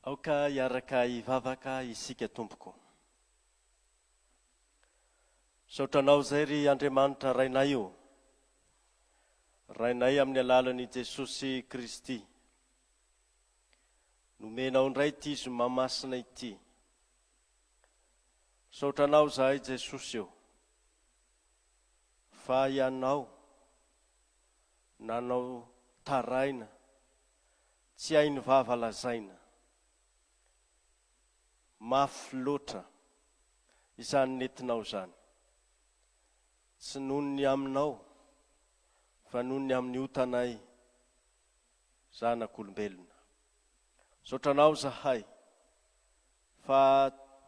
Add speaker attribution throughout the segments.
Speaker 1: Aoka hiaraka hivavaka isika tompoko. Misaotra anao izay ry Andriamanitra Rainay o! Rainay amin'ny alalan'i Jesosy Kristy. Nomenao indray ity zoma masina ity. Misaotra anao izahay Jesosy o! Fa Ianao. Nanao taraina, tsy hainy vava lazaina. Mafy loatra izany nentinao izany. Tsy noho ny aminao fa noho ny amin'ny otanay zanak'olombelona. Misaotra anao izahay fa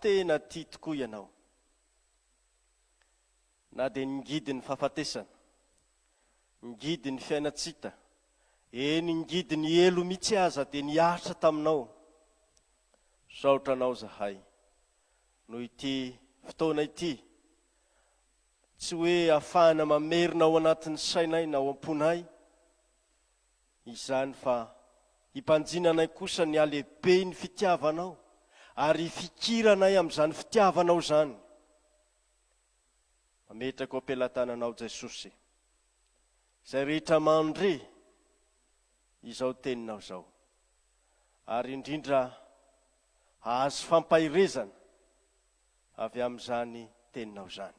Speaker 1: tena tia tokoa ianao. Na dia ngidy ny fahafatesana, ngidy ny fiainan-tsita, eny ngidy ny helo mihitsy aza dia niaritra taminao. Misaotra anao izahay noho ity fotoana ity, tsy hoe afahana mamerina ao anatin'ny sainay na ao am-ponay izany fa hibanjina anay kosa ny halehiben'ny fitiavanao ary hifikiranay amin'izany fitiavanao izany. Ametrako am-pelatananao Jesosy. Izay rehetra mandre izao teninao izao. Ary indrindra hahazo fampaherezana avy amin'izany teninao izany.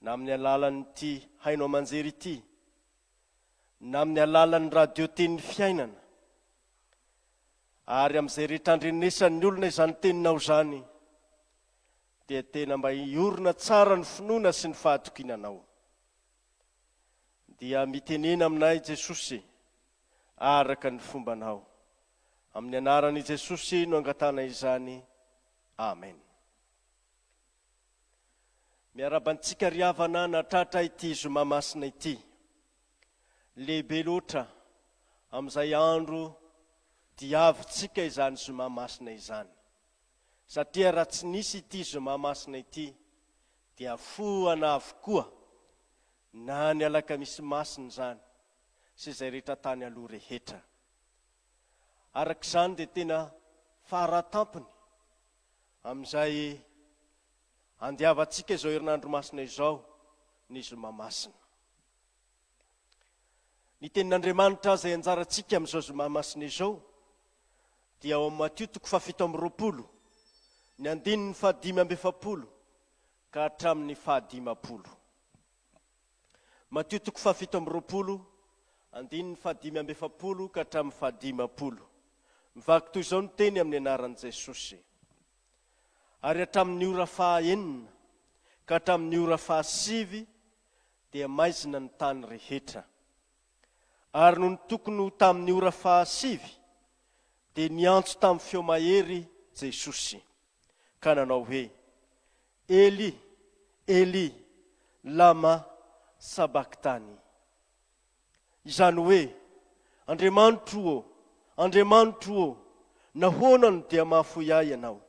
Speaker 1: Na amin'ny alalan'ity haino aman-jery ity, na amin'ny alalan'ny radio Tenin'ny Fiainana, ary amin'izay rehetra andrenesan'ny olona izany teninao izany, dia tena mba hiorina tsara ny finoana sy ny fahatokiana Anao. Dia mitenena aminay Jesosy araka ny fombanao. Amin'ny anaran' i Jesosy no angatahana izany. Amen. Miarahaba antsika ry havana natratra ity zoma masina ity. Lehibe loatra amin'izay andro diavintsika izany zoma masina izany. Satria raha tsy nisy ity zoma masina ity dia foana avokoa na ny alakamisy masina izany sy izay rehetra tany aloha rehetra. Araka izany dia tena faratampony amin'izay andiavantsika izao herinandro masina izao ny zoma masina. Ny tenin'Andriamanitra izay anjarantsika amin'izao zoma masina izao dia ao amin'ny Matio toko fahafito amby roapolo, ny andininy fahadimy amby efapolo ka hatramin'ny fahadimampolo. Matio toko fahafito amby roapolo, andininy fahadimy amby efapolo ka hatramin'ny fahadimampolo. Mivaky toy izao ny teny amin'ny anaran'i Jesosy. Ary hatramin'ny ora faha enina ka hatramin'ny ora faha sivy dia maizina ny tany rehetra. Ary nony tokony ho tamin'ny ora fahasivy, dia niantso tamin'ny feo mahery Jesosy, ka nanao hoe, Eli, Eli, lama sabakthani? Izany hoe, Andriamanitro ô, Andriamanitro ô, nahoana no dia mahafoy ahy Ianao?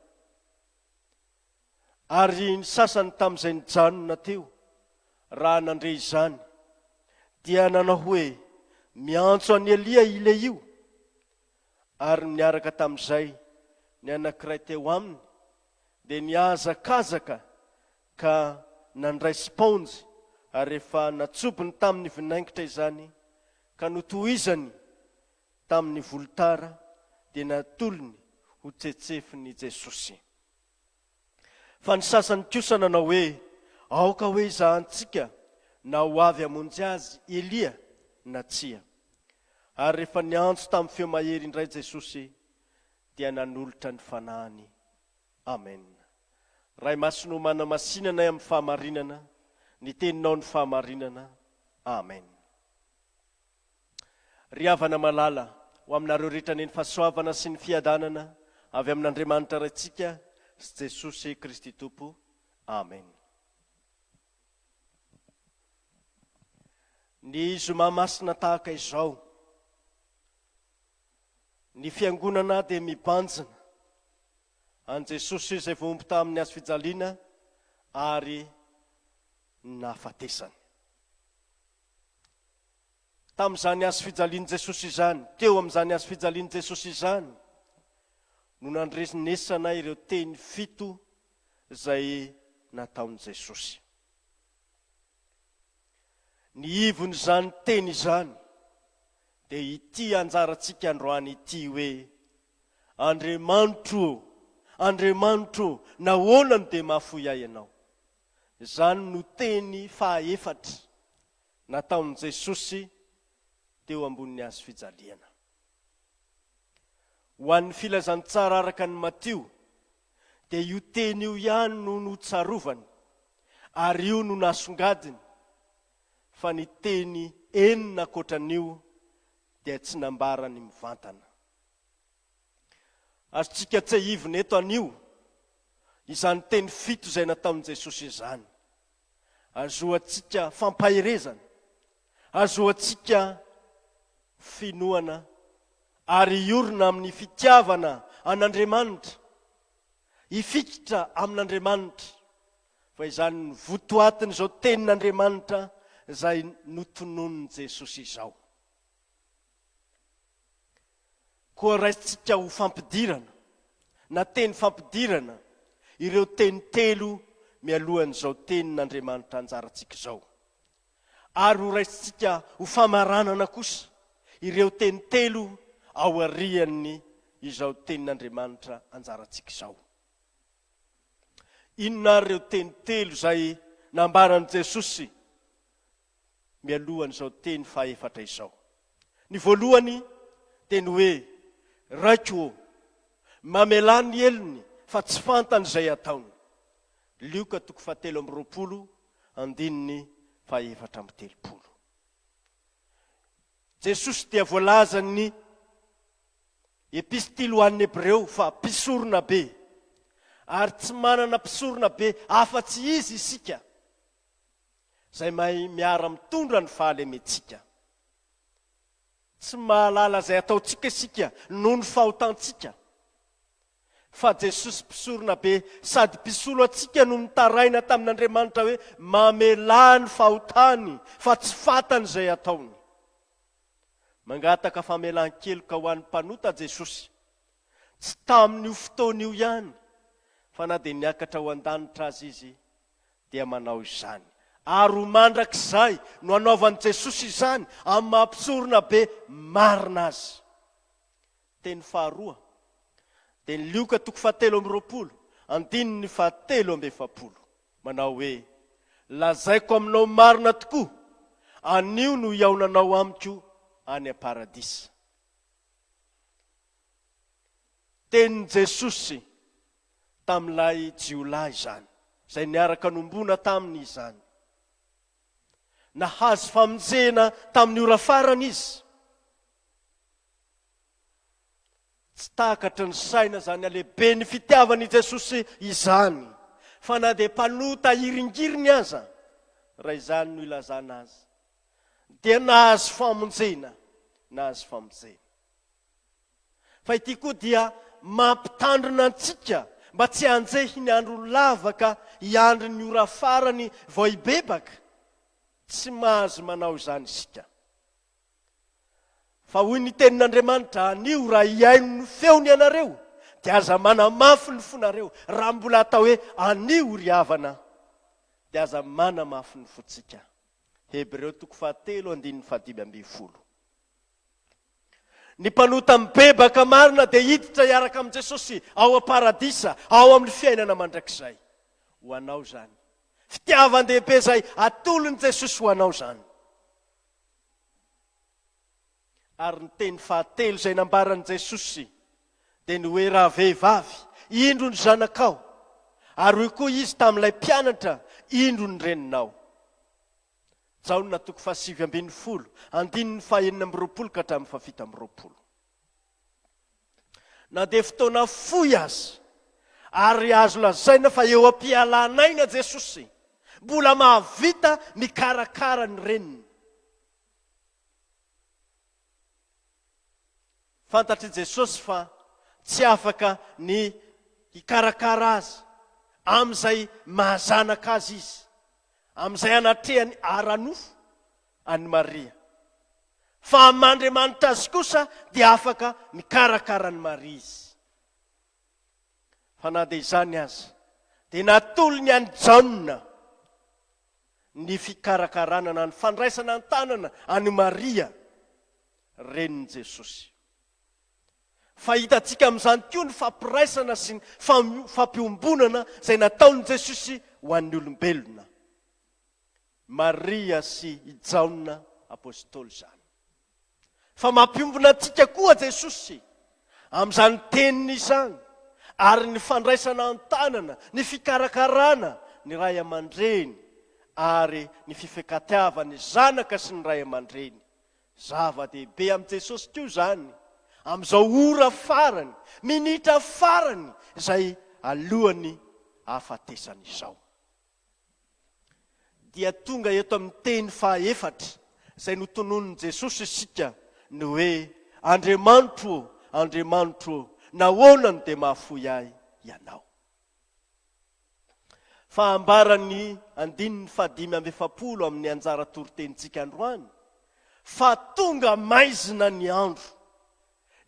Speaker 1: Ary ny sasany tamin'izay nijanona teo, raha nandre izany, dia nanao hoe, Miantso an'i Elia i Lehio! Ary niaraka tamin'izay ny anankiray teo aminy, dia nihazakazaka ka nandray spaonjy, ary rehefa natsobony tamin'ny vinaingitra izany, ka notohizany tamin'ny volotara, dia natolony ho tsetsefin'i Jesosy. Fa ny sasany kosa nanao hoe, Aoka hoe izahantsika na ho avy hamonjy azy Elia na tsia. Ary rehefa niantso tamin'ny feo mahery indray Jesosy, dia nanolotra ny Fanahiny. Amen. Ray Masina ô manamasinana ahy amin'ny fahamarinana, ny Teninao no fahamarinana. Amen. Ry havana malala, ho aminareo rehetra anie ny fahasoavana sy ny fiadanana avy amin'Andriamanitra Raintsika sy Jesosy Kristy Tompo. Amen. Ny zoma masina tahaka izao, ny fiangonana dia mibanjina an'i Jesosy izay voaomby tamin'ny hazo fijaliana ary nahafatesany. Tamin'izany hazo fijalian'i Jesosy izany, teo amin'izany hazo fijalian'i Jesosy izany no nandrenesana ireo teny fito izay nataon'i Jesosy. Ny ivon'izany teny izany dia ity anjarantsika androany ity hoe, Andriamanitro ô, Andriamanitro ô, nahoana no dia mahafoy ahy Ianao? Izany no teny fahaefatra. nataon'i Jesosy teo ambonin'ny hazo fijaliana. Ho an'ny Filazantsara araka an'i Matio, dia io teny io ihany no notsarovany, ary io no nasongadiny, fa ny teny enina ankoatra an'io dia tsy nambarany mivantana. Azontsika tsehivina eto anio izany teny fito izay nataon'i Jesosy izany. Azoantsika fampaherezana, azoantsika finoana ary hiorina amin'ny fitiavana an'Andriamanitra, hifikitra amin'Andriamanitra, fa izany no votoatin'izao tenin'Andriamanitra izay notononin'i Jesosy izao. Koa raisintsika ho fampidirana, na teny fampidirana, ireo teny telo mialohan'izao Tenin'Andriamanitra anjarantsika izao. Ary ho raisintsika ho famaranana kosa ireo teny telo aorian'ny izao Tenin'Andriamanitra anjarantsika izao. Inona ary ireo teny telo izay nambaran'i Jesosy mialohan'izao teny fahefatra izao. Ny voalohany dia ny hoe, Raiko ô, mamelà ny helony fa tsy fantany izay ataony. Lioka toko fahatelo amby roapolo, andininy fahefatra amby telopolo. Jesosy dia voalazan'ny Epistily ho an'ny Hebreo fa mpisorona be, ary tsy manana mpisorona be afa-tsy Izy isika. izay mahay miara mitondra ny fahalementsika. Tsy mahalala izay ataontsika isika noho ny fahotantsika. Fa Jesosy Mpisoronabe sady Mpisolo antsika no nitaraina tamin'Andriamanitra hoe mamelà ny fahotany fa tsy fantany izay ataony. Mangataka famelan-keloka ho an'ny mpanota Jesosy. Tsy tamin'io fotoana io ihany fa na dia niakatra ho an-danitra aza izy, dia manao izany. Ary ho mandrakizay no hanaovan'i Jesosy izany amin'ny maha-Mpisorona be marina Azy. Teny faharoa dia ny Lioka toko fahatelo amby roapolo, andininy fahatelo amby efapolo, manao hoe, Lazaiko aminao marina tokoa, anio no hihaonanao amiko any am-paradisa. Tenin'i Jesosy tamin'ilay jiolahy izany, izay niaraka nombona taminy izany. Nahazo famonjena tamin'ny ora farany izy. Tsy takatry ny saina izany halehiben'ny fitiavan'i Jesosy izany, fa na dia mpanota hiringiriny aza, raha izany no ilazana azy, dia nahazo famonjena, nahazo famonjena. Fa ity koa dia mampitandrina antsika mba tsy hanjehy ny andro lava ka hiandry ny ora farany vao hibebaka. Tsy mahazo manao izany isika. Fa hoy ny tenin'Andriamanitra, Anio, raha hihaino ny feony ianareo, dia aza manamafy ny fonareo. Raha mbola atao hoe anio ry havana, dia aza manamafy ny fontsika. Hebreo toko fahatelo andininy fahadimy ambin'ny folo. Ny mpanota mibebaka marina dia hiditra hiaraka amin'i Jesosy ao am-paradisa, ao amin'ny fiainana mandrakizay. Ho anao izany. Fitiavan-dehibe izay atolon'i Jesosy ho anao izany. Ary ny teny fahatelo izay nambaran'i Jesosy dia ny hoe rahavehivavy, indro ny zanakao. Ary hoy koa izy tamin'ilay mpianatra, indro ny reninao. Jaona toko fahasivy ambin'ny folo, andininy fahaenina amby roapolo ka hatramin'ny fahafito amby roapolo. Na dia fotoana fohy aza, ary azo lazaina fa eo am-pialan'aina Jesosy, mbola mahavita mikarakara ny reniny. Fantatr'i Jesosy fa tsy afaka ny hikarakara azy amin'izay maha-zanaka azy izy, amin'izay anatrehany ara-nofo an'i Maria. Fa amin'Andriamanitra azy kosa dia afaka mikarakara an'i Maria izy. Fa na dia izany aza, dia natolony an'i Jaona ny fikarakarana na ny fandraisana an-tanana an'i Maria, renin'i Jesosy. Fa hitantsika amin'izany koa ny fampiraisana sy ny fampiombonana izay nataon'i Jesosy ho an'ny olombelona. Maria sy i Jaona Apostoly izany. fa mampiombona antsika koa Jesosy amin'izany teniny izany ary ny fandraisana an-tanana, ny fikarakarana ny ray aman-dreny ary ny fifankatiavan'ny zanaka sy ny ray aman-dreny. Zava-dehibe amin'i Jesosy koa izany amin'izao ora farany, minitra farany izay alohan'ny hahafatesany izao. dia tonga eto amin'ny teny fahaefatra izay notononin'i Jesosy isika, ny hoe, Andriamanitro ô, Andriamanitro ô, nahoana no dia mahafoy ahy Ianao? Fa ambaran'ny andininy fahadimy amby efapolo amin'ny anjara toritenintsika androany fa tonga maizina ny andro,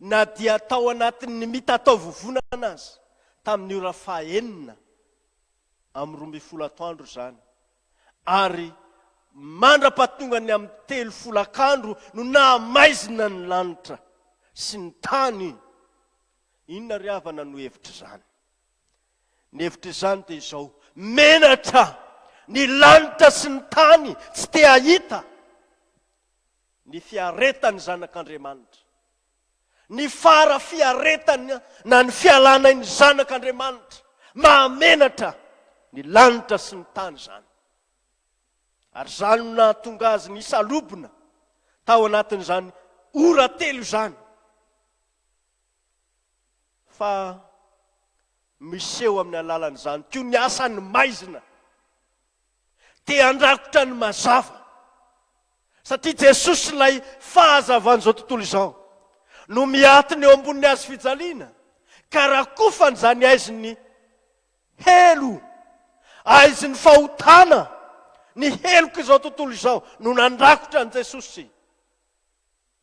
Speaker 1: na dia tao anatin'ny mitataovovonana aza, tamin'ny ora fahenina, amin'ny roa ambin'ny folo atoandro izany, ary mandra-pahatongan'ny amin'ny telo folakandro no nahamaizina ny lanitra sy ny tany. Inona ry havana no hevitr'izany? Ny hevitr'izany dia izao, menatra ny lanitra sy ny tany, tsy te-hahita ny fiaretan'ny Zanak'Andriamanitra. Ny fara fiaretana na ny fialana ain'ny Zanak' Andriamanitra. Mahamenatra ny lanitra sy ny tany izany. Ary izany no nahatonga azy nisalobona tao anatin'izany ora telo izany. Fa miseho amin'ny alalan'izany koa ny asan'ny maizina. dia handrakotra ny mazava. Satria Jesosy ilay fahazavan'izao tontolo izao no miatona eo ambonin'ny hazo fijaliana ka rakofany izany aizin'ny helo, aizin'ny fahotana, ny helok'izao tontolo izao no nandrakotra an'i Jesosy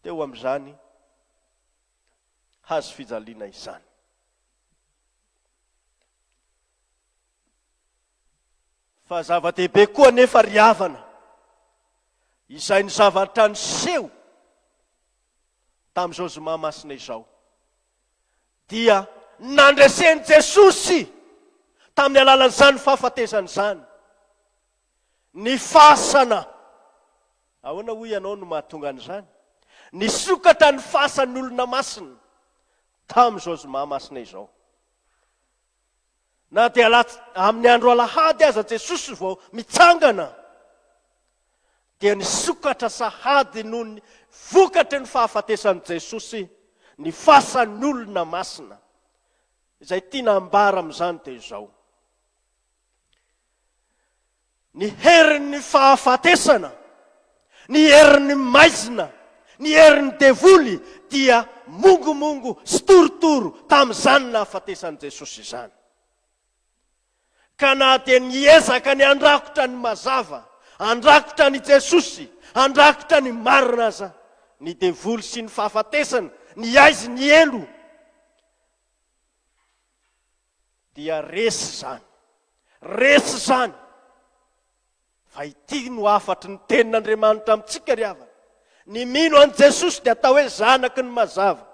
Speaker 1: teo amin'izany hazo fijaliana izany. Fa zava-dehibe koa anefa ry havana, izay ny zavatra niseho tamin'izao zoma masina izao, dia nandresen'i Jesosy tamin'ny alalan'izany fahafatesany izany ny fasana, ahoana hoy ianao no mahatonga an'izany? nisokatra ny fasan'ny olona masina tamin'izao zoma masina izao. Na dia lats amin'ny andro alahady aza Jesosy vao mitsangana, dia nisokatra sahady noho ny vokatry ny fahafatesan'i Jesosy ny fasan'ny olona masina. Izay tiana ambara amin'izany dia izao. Ny herin'ny fahafatesana, ny herin'ny maizina, ny herin'ny devoly dia mongomongo sy torotoro tamin'izany nahafatesan'i Jesosy izany. Ka na dia niezaka ny handrakotra ny mazava, handrakotra an'i Jesosy, handrakotra ny marina aza ny devoly sy ny fahafatesana, ny aizy, ny helo, Dia resy izany. Resy izany. Fa ity no hafatry ny tenin'Andriamanitra amintsika ry havana. Ny mino an'i Jesosy dia atao hoe zanaky ny mazava.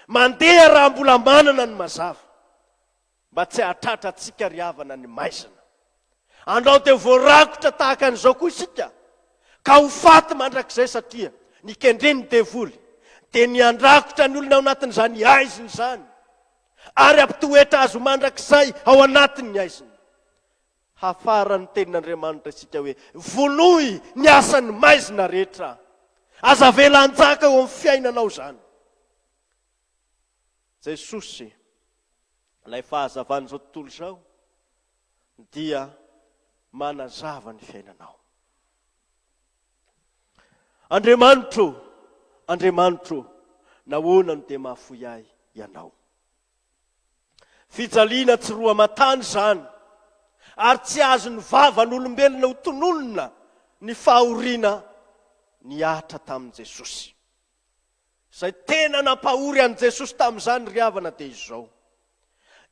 Speaker 1: Mandeha raha mbola manana ny mazava. Mba tsy hahatratra antsika ry havana ny maizina. Andao dia voarakotra tahaka an'izao koa isika ka ho faty mandrakizay satria ny kendren'ny devoly dia ny handrakotra ny olona ao anatin'izany haizina izany. ary hampitoetra azy ho mandrakizay ao anatin' ny haizina. Hafaran' ny tenin' Andriamanitra isika hoe, Vonoy ny asan' ny maizina rehetra. Aza avela hanjaka eo amin' ny fiainanao izany. Jesosy, ilay fahazavan' izao tontolo izao, dia manazava ny fiainanao. Andriamanitro ô, Andriamanitro ô, nahoana no dia mahafoy ahy Ianao? Fijaliana tsy roa aman-tany izany, ary tsy azon'ny vavan'olombelona ho tononina ny fahoriana nihatra tamin'i Jesosy. Izay tena nampahory an'i Jesosy tamin'izany ry havana dia izao,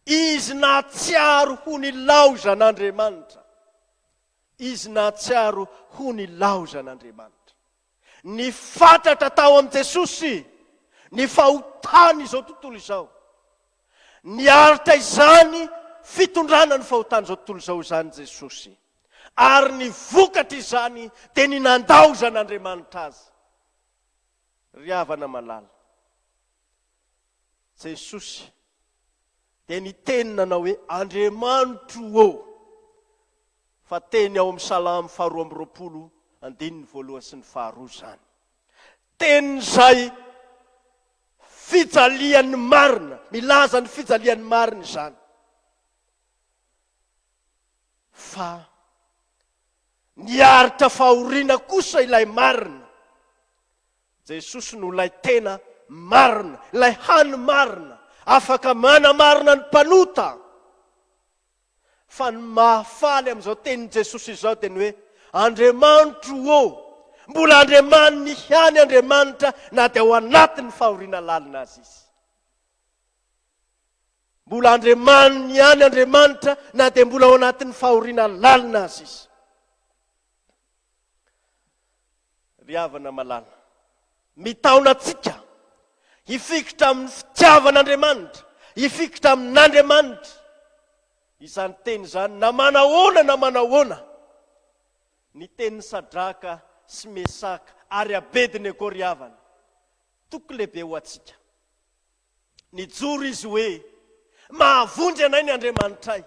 Speaker 1: Izy nahatsiaro ho nilao izan'Andriamanitra. Izy nahatsiaro ho nilaozan'Andriamanitra. Ny fatratra tao amin'i Jesosy ny fahotan'izao tontolo izao. Niaritra izany fitondrana ny fahotan'izao tontolo izao izany Jesosy. Ary ny vokatr'izany dia ny nandaozan'Andriamanitra Azy. Ry havana malala. Jesosy dia niteny nanao hoe, Andriamanitro ô! Fa teny ao amin'ny Salamo faharoa amby roapolo, andininy voalohany sy ny faharoa izany. Teny izay fijalian'ny marina, milaza ny fijalian'ny marina izany. Fa niaritra fahoriana kosa ilay marina. Jesosy no ilay tena marina, ilay hany marina, afaka manamarina ny mpanota. Fa ny mahafaly amin'izao tenin'i Jesosy izao dia ny hoe, Andriamanitro ô, mbola Andriamaniny ihany Andriamanitra na dia ao anatin'ny fahoriana lalina aza Izy. Mbola Andriamaniny ihany Andriamanitra na dia mbola ao anatin'ny fahoriana lalina aza Izy. Ry havana malala, mitaona antsika hifikitra amin'ny fitiavan'Andriamanitra, hifikitra amin'Andriamanitra. Izany teny izany na manahoana na manahoana, ny tenin'i Sadraka sy Mesaka ary Abednego ry havana, toky lehibe ho antsika. Nijoro izy hoe, Mahavonjy anay ny Andriamanitray.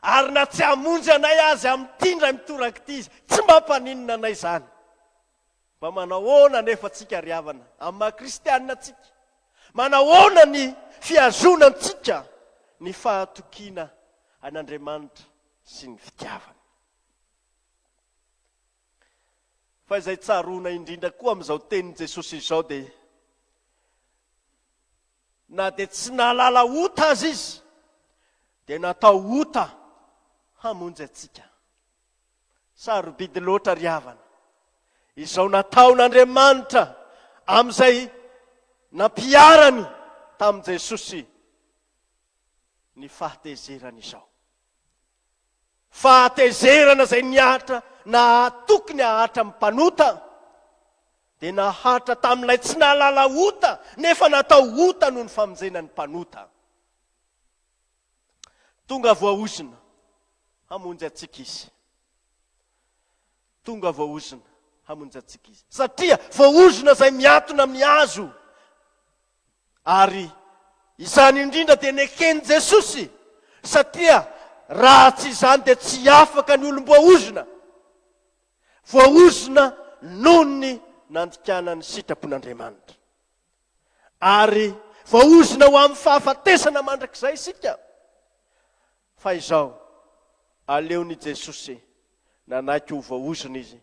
Speaker 1: Ary na tsy hamonjy anay aza amin'ity indray mitoraka ity Izy, tsy mba mpaninona anay izany. Mba manao ahoana anefa tsika ry havana, amin'ny maha kristianina antsika? Manahoana ny fihazonantsika ny fahatokiana an'Andriamanitra sy ny fitiavany? Fa izay tsaroana indrindra koa amin'izao tenin'i Jesosy izao dia na dia tsy nahalala ota aza izy dia natao ota hamonjy antsika. Sarobidy loatra ry havana izao nataon'Andriamanitra amin'izay nampiharany tamin'i Jesosy ny fahatezerany izao. Fahatezerana izay nihatra nahatoky ny hahatra amin'ny mpanota, dia nahatra tamin'ilay tsy nahalala ota nefa natao ota noho ny famonjena ny mpanota. Tonga voaozona hamonjy antsika Izy. Tonga voaozona hamonjy antsika Izy. Satria voaozona izay miatona amin'ny hazo. Ary izany indrindra dia neken'i Jesosy, satria raha tsy izany dia tsy afaka ny olom-boaozona, voaozona noho ny nandikana ny sitrapon'Andriamanitra. Ary voaozona ho amin'ny fahafatesana mandrakizay isika. Fa izao, aleon'i Jesosy nanaiky ho voaozona izy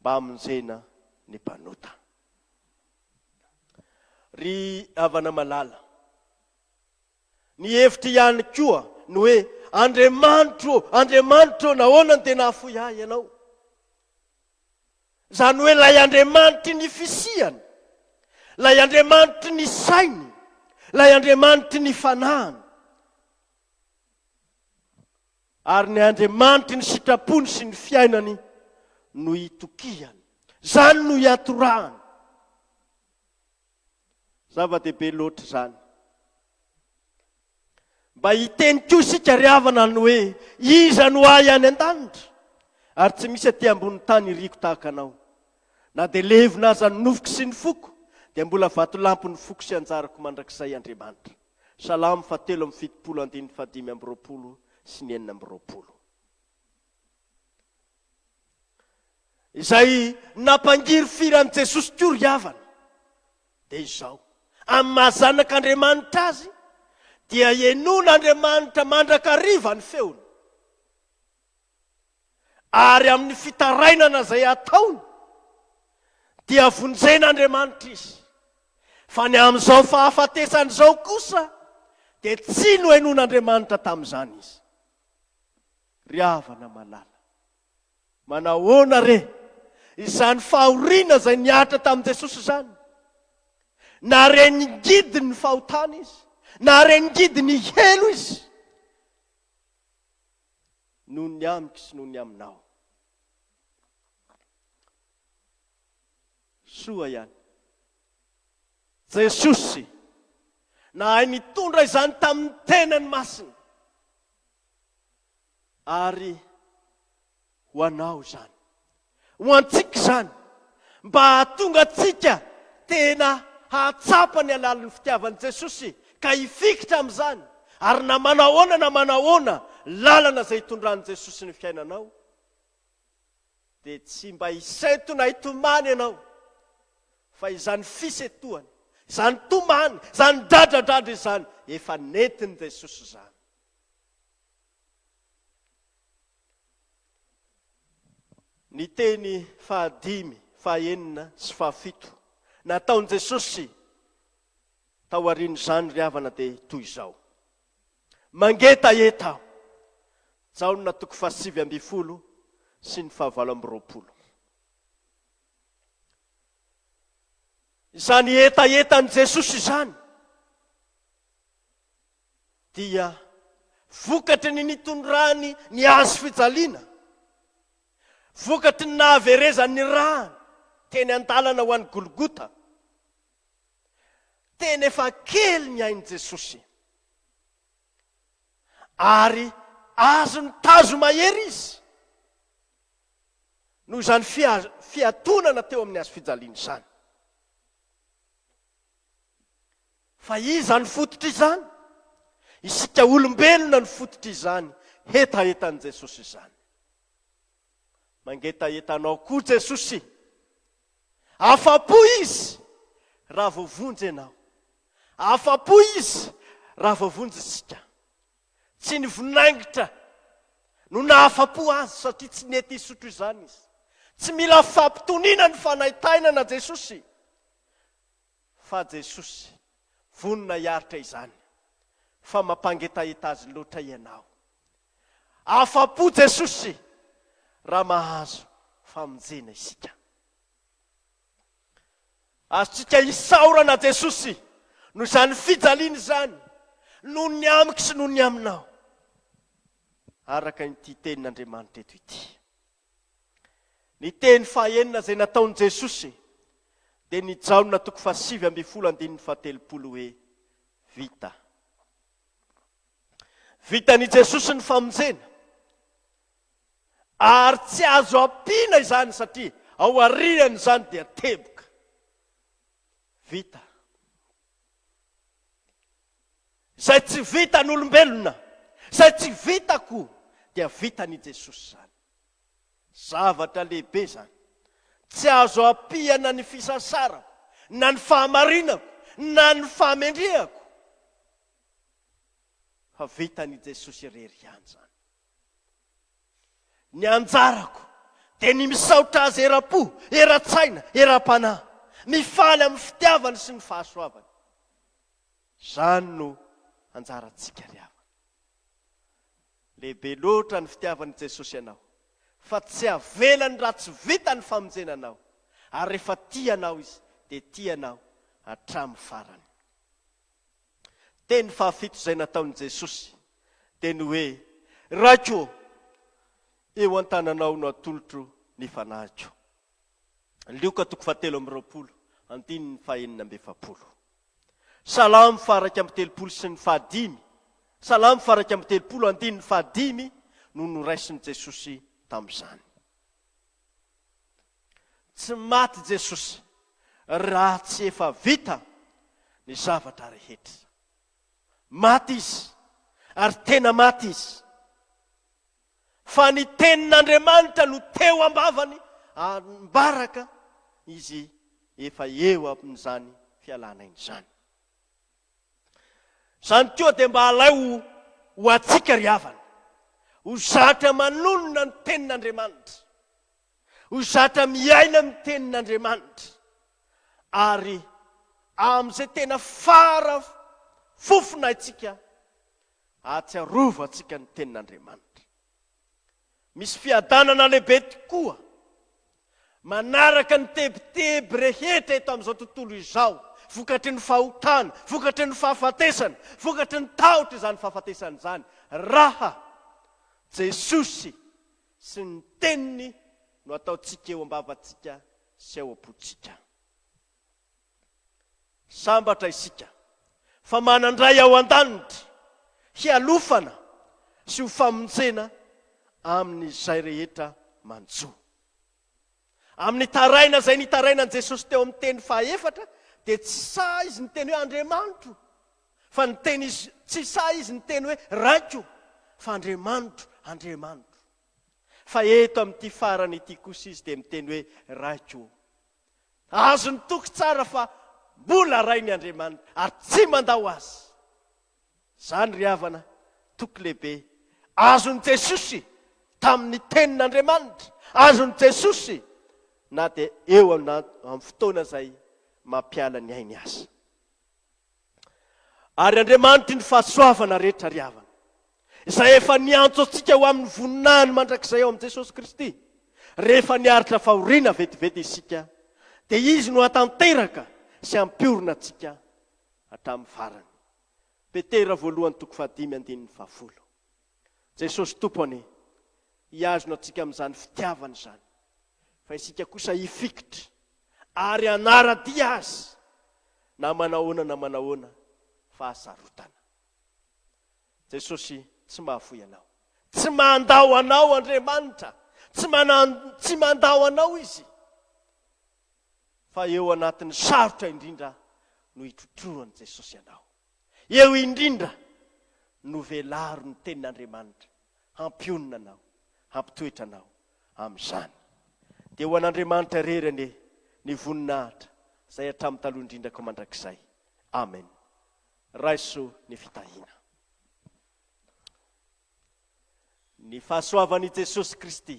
Speaker 1: mba hamonjena ny mpanota. Ry havana malala. Ny hevitro ihany koa ny hoe, Andriamanitro ô, Andriamanitro ô, nahoana no dia nahafoy ahy Ianao? Izany hoe ilay Andriamanitry ny fisiany, ilay Andriamanitry ny sainy, ilay Andriamanitry ny fanahiny. Ary ny Andriamanitry ny sitrapony sy ny fiainany no itokiany. Izany no iatorahany. Zava-dehibe loatra izany. Mba hiteny koa isika ry havana ny hoe, Iza no ahy any an-danitra? Ary tsy misy aty ambony tany iriko tahaka anao. Na dia levona aza ny nofoko sy ny foko, dia mbola vatolampy ny foko sy anjarako mandrakizay Andriamanitra. Salamo faha telo amby fitopolo andininy faha dimy amby roapolo sy ny enina amby roapolo. Izay nampangirifiry an'i Jesosy koa ry havana, dia izao, amin'ny maha Zanak'Andriamanitra azy, dia henon'Andriamanitra mandrakariva ny feony. ary amin'ny fitarainana izay ataony dia vonjen'Andriamanitra izy, fa ny amin'izao fahafatesany izao kosa dia tsy nohenoin'Andriamanitra tamin'izany izy. Ry havana malala, manahoana re izany fahoriana izay nihatra tamin'i Jesosy izany? Nahareningidy ny fahotana izy, nahareningidy ny helo izy. noho ny amiko sy noho ny aminao. Soa ihany. Jesosy nahay nitondra izany tamin'ny tenany masina ary Ho anao izany. Ho antsika izany. Mba hahatonga antsika tena hahatsapa ny halalin'ny fitiavan'i Jesosy ka hifikitra amin'izany, ary na manahoana na manahoana lalana izay hitondran'i Jesosy ny fiainanao, dia tsy mba hisento na hitomany ianao, fa izany fisentohana, izany tomany, izany dradradradra izany, efa nentin'i Jesosy izany. Ny teny fahadimy, fahenina sy fahafito nataon'i Jesosy taorian'izany ry havana dia toy izao, Mangetaheta aho. Jaona toko fahasivy ambin'ny folo sy ny fahavalo amby roapolo. Izany hetahetan'i Jesosy izany dia vokatry ny nitondrany ny hazo fijaliana, vokatry ny nahaverezany ny rany teny an-dalana ho any Golgota. Tena efa kely ny ain'i Jesosy. Ary azony tazo mahery izy noho izany fiatonana teo amin'ny hazo fijaliana izany. Fa iza no fototr'izany? Isika olombelona no fototr'izany hetahetan'i Jesosy izany. Mangetaheta anao koa Jesosy. Afa-po Izy raha voavonjy ianao. Afa-po Izy raha voavonjy isika. Tsy ny vinaingitra no nahafa-po Azy satria tsy nety hisotro izany Izy. Tsy mila fampitoniana ny fanaintainana Jesosy. Fa Jesosy, vonona hiaritra izany, fa mampangetaheta azy loatra Ianao. Afa-po Jesosy raha mahazo famonjena isika. Azontsika isaorana Jesosy noho izany fijaliana izany, noho ny amiko sy noho ny aminao, araka ity tenin'Andriamanitra eto ity. Ny teny fahenina izay nataon'i Jesosy dia ny Jaona toko fahasivy ambin'ny folo andininy fahatelopolo hoe, Vita. Vitan'i Jesosy ny famonjena. Ary tsy azo ampiana izany satria ao aorian'izany dia teboka. Vita. Izay tsy vitan'olombelona, izay tsy vitako dia vitan'i Jesosy izany. Zavatra lehibe izany. Tsy azo ampiana ny fisasarako, na ny fahamarinako, na ny fahamendrehako, fa vitan'i Jesosy irery ihany izany. Ny anjarako dia ny misaotra Azy eram-po, eran-tsaina, eram-panahy, mifaly amin'ny fitiavany sy ny fahasoavany. Izany no anjarantsika ry havana. Lehibe loatra ny fitiavan'i Jesosy anao, fa tsy havelany raha tsy vita ny famonjena anao, ary rehefa tia anao Izy, dia tia anao hatramin'ny farany. Teny fahafito izay nataon'i Jesosy dia ny hoe, Raiko ô, eo an-tananao no atolotro ny fanahiko. Lioka toko fahatelo amby roapolo, andininy fahenina amby efapolo. Salamo faha-iraika amby telopolo sy ny fahadimy, Salamo faha-iraika amby telopolo, andininy fahadimy no noraisin'i Jesosy tamin'izany. Tsy maty Jesosy raha tsy efa vita ny zavatra rehetra. Maty Izy, ary tena maty Izy. fa ny tenin'Andriamanitra no teo am-bavany ary mbaraka izy efa eo amin'izany fialana aina izany. Izany koa dia mba alaiho ho antsika ry havana, ho zatra manonona ny tenin'Andriamanitra, ho zatra miaina amin'ny tenin'Andriamanitra, ary amin'izay tena fara fofona antsika Ahatsiarovantsika ny Tenin'Andriamanitra. Misy fiadanana lehibe tokoa manaraka ny tebiteby rehetra eto amin'izao tontolo izao, vokatry ny fahotana, vokatry ny fahafatesana, vokatry ny tahotr' izany fahafatesana izany, raha Jesosy sy ny Teniny no ataontsika eo am-bavantsika sy ao am-pontsika. Sambatra isika fa manan-dray ao an-danitra hialofana sy ho famonjena amin'izay rehetra manjo. Amin'ny taraina izay nitarainan'i Jesosy teo amin'ny teny fahaefatra dia tsy sahy izy niteny hoe Andriamanitro fa niteny izy tsy sahy izy niteny hoe Raiko fa Andriamanitro, Andriamanitro. Fa eto amin'ity farany ity kosa izy dia miteny hoe Raiko. Azony toky tsara fa mbola Rainy Andriamanitra ary tsy mandao Azy. Izany ry havana toky lehibe. Azon'i Jesosy tamin'ny Tenin'Andriamanitra. Azon'i Jesosy na dia eo amin'ny fotoana izay mampiala ny ainy aza. Ary Andriamanitry ny fahasoavana rehetra ry havana, izay efa niantso antsika ho amin'ny voninahiny mandrakizay ao amin'i Jesosy Kristy, rehefa niaritra fahoriana vetivety isika, dia Izy no hatanteraka sy hampiorina antsika hatramin'ny farany. Petera voalohany toko fahadimy andininy fahafolo. Jesosy Tompo anie hihazona antsika amin'izany fitiavany izany, fa isika kosa hifikitra ary hanara-dia Azy na manahoana na manahoana fahasarotana. Jesosy tsy mahafoy anao. Tsy mandao anao Andriamanitra, tsy manan, tsy mandao anao Izy. Fa eo anatin'ny sarotra indrindra no hitrotroan'i Jesosy anao. Eo indrindra no velaro ny tenin'Andriamanitra hampionona anao, hampitoetra anao amin'izany. Dia ho an'Andriamanitra irery anie ny voninahitra izay hatramin'ny taloha indrindra ka mandrakizay. Amen. Raiso ny fitahiana. Ny fahasoavan'i Jesosy Kristy.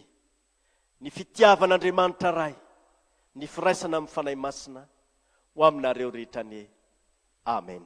Speaker 1: ny fitiavan'Andriamanitra Ray, ny firaisana amin'ny Fanahy Masina ho aminareo rehetra anie. Amen.